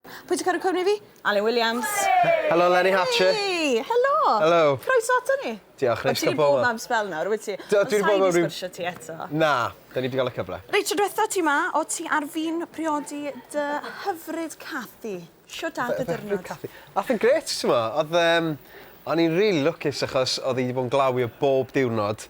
Pwy sy'n caru cwmni fi? Alun Williams. Helo Lenny Hatcher. Hei! Helo! Helo. Croeso ato ni. Diolch, neis cael bobl. Ti wedi bod am sbel nawr, wyt ti? Do, dwi wedi bod am ryw... Ond sgwrsio ti eto. Na, da ni wedi cael y cyfle. Reit, tro diwetha ti ma, o ti ar fin priodi dy hyfryd Cathy. Sio da dy dyrnod? Cathy. Ath yn gret, ti'n mo. Oedd, um, o'n i'n really lwcus achos oedd hi wedi bod yn glawi o bob diwrnod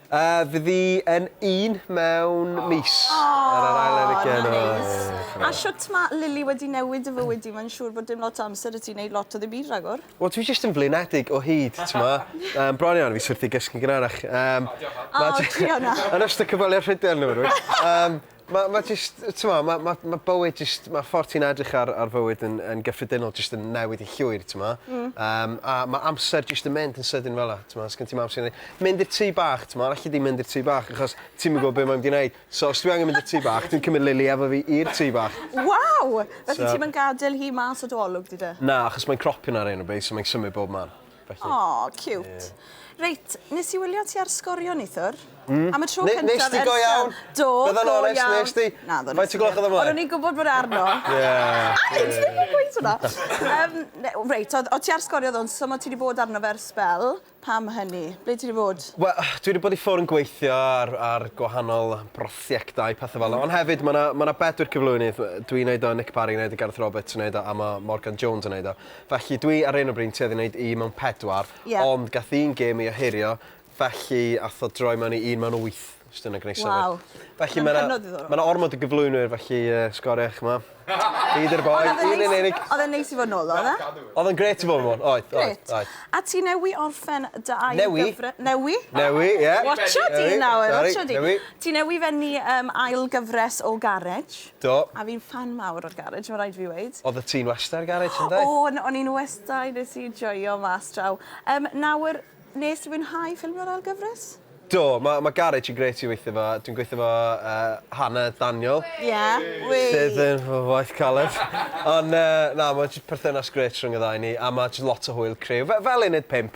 A fydd hi yn un mewn mis. Aww! Ar yr ail ar y gen. Ma'n neis. A shwt ma' Lili wedi newid dy fywyd di? Mae'n siŵr bod dim lot o amser 'da ti neud lot o ddim byd ragor. Wel dwi jyst yn flinedig o hyd t'mo'. Yym bron iawn fi syrthio i gysgu'n gynharach. Yym. O diolch. Yn ystod cyfweliad rhydell neu rywbeth. Yym. Mae, mae jyst, t'mo', mae, mae, mae bywyd jyst, mae ffordd ti'n edrych ar, ar fywyd yn, yn gyffredinol jyst yn newid yn llwyr, t'mo'? Mm. Um, a mae amser jyst yn mynd yn sydyn fel la, t'mo', sgyn ti'm amser i neud. Mynd i'r tŷ bach, t'mo', alli di mynd i'r tŷ bach achos ti'm yn gwybod be' mae'n mynd i neud. So os dwi angen mynd i'r tŷ bach, dwi'n cymryd Lily efo fi i'r tŷ bach. Waw! Felly so... ti'm yn gadael hi mas o dy olwg di de? Na, achos mae'n cropio 'na ar hyn o bryd, so mae'n symud bob man. Felly... O, ciwt. Ie. Reit, nes i wylio ti ar Sgorio neithwr. Mm. Am y tro cyntaf... Ne- nest ti go iawn? Do, go iawn. Bydda i'n onest, nes di? Naddo, nes i... Faint o gloch o'dd o mlaen? O'n i'n gwbod bod e arno. Ie. Ie. Ti ddim yn gweud hwnna. Yym, ne- w- reit, o'dd o' ti ar Sgorio ddo'n so ma' ti 'di bod arno fe ar sbel. Pam hynny? Ble ti 'di bod? We- dwi 'di bod i ffwr' yn gweithio ar ar gwahanol brosiectau, pethe fel 'a. Ond hefyd ma' 'na ma' 'na bedwar cyflwynydd. Yy dwi'n neud o, Nick Parry neud o, Gareth Roberts yn neud o a ma' Morgan Jones yn neud o. Felly dwi ar hyn o bryd'n tueddu neud un mewn pedwar. Ie. Ond gath un gêm ei ohirio felly ath o droi mewn i un mewn wyth os dyna gneud synnwyr. Waw. Felly ma' 'na... Ma'n hynod ddiddorol. ...ma' 'na ormod o gyflwynwyr felly yy sgoria ch'mo'. Fi 'di'r boi. Ond o'dd e'n neis... Un yn unig. O'dd e'n neis i fod nôl ddo yfe? Cadw. O'dd o'n grêt i fod nôl. Oedd oedd. Grêt. Oedd. A ti newy orffen dy ail Newy. ...gyfre- newy? Newy ie. Watcha di nawr. Sori. Watcha di. Newy. Ti newy fennu yym ail gyfres o Garej. Do. A fi'n ffan mawr o'r garej ma' raid fi weud. Oddet ti'n wasta i'r garej ynde? O o'n o'n i'n wasta i nes i joio mas draw. Yym nawr nes ti fwynhau ffilmio'r ail gyfres? Do ma' ma' garej yn grêt i weithio 'fo dwi'n gweithio 'fo yy Hannah Daniel. Ie wei! Sydd yn fy waith caled. Ond yy na ma' jys perthynas grêt rhwng y ddau o ni a ma' jys lot o hwyl criw fe- fel uned pump.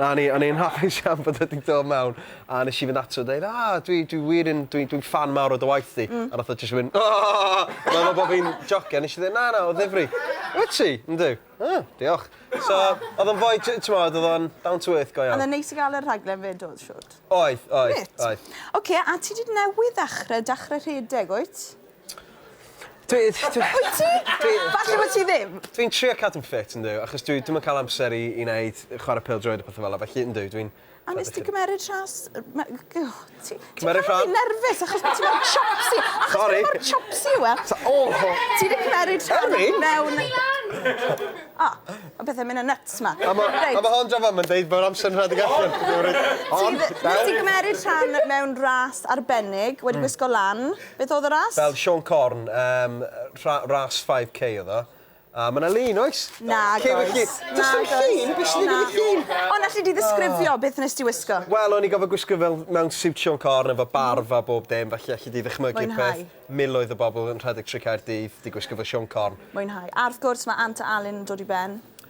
A o'n i, o'n i'n hapus iawn bod o 'di dod mewn, a nes i fynd ato fo deud, ah, dwi, dwi wir yn, dwi, dwi'n ffan mawr o dy waith di. Mm. A nath o jyst mynd, aaahh! O'n i'n meddwl bod fi'n jocio, nes i ddeud, na, na, o ddifri. Wyt ti? Yndw. Ah, diolch. So, oedd o'n fwy, ti'n t'mod, oedd o'n down to earth go iawn. Oedd o'n neis i gael y rhaglen fyd oedd, siwt? Oedd, oedd, oedd. Oce, a ti di newydd ddechrau, dechrau rhedeg, wyt? Dwi dwi... Wyt ti? Dwi... Falle bo' ti ddim. Dwi'n trio cadw'n ffit yndw achos dwi dwi'm yn ca'l amser i i neud yy chware pêl-droed a petha fel 'a felly yndw dwi'n... A nest ti cymeryd rhas yy ma- g- o ti ti'n ca'l fi nerfus achos bo' ti mor chopsy achos bo' ti mor chopsy yw e? T- o! Ti 'di cymeryd rhan... O'n i? ...mewn... Ti lan! O ma' pethe myn' yn nyts 'ma. A ma'... Reit. A ma' hon draw fama yn deud bo'r amser yn rhedeg allan. Ti 'di... Ond... Ti 'di cymeryd rhan mewn ras arbennig wedi gwisgo lan. Beth oedd y ras? Fel Siôn Corn yym rha- ras 5k oedd o. A ma' 'na lun oes? Nag oes. Lliw y llun. Does dim llun, be' sy'n digwydd i'r llun? Ond alli di ddisgrifio beth nes ti wisgo? Wel o'n i gorfod gwisgo fel mewn siwt Siôn Corn efo barf a bob dim felly alli di ddychmygu'r peth. Mwynhau. Miloedd o bobl yn rhedeg trwy Caerdydd 'di gwisgo fel Siôn Corn. Mwynhau. A wrth gwrs ma' Ant a Alun yn dod i ben.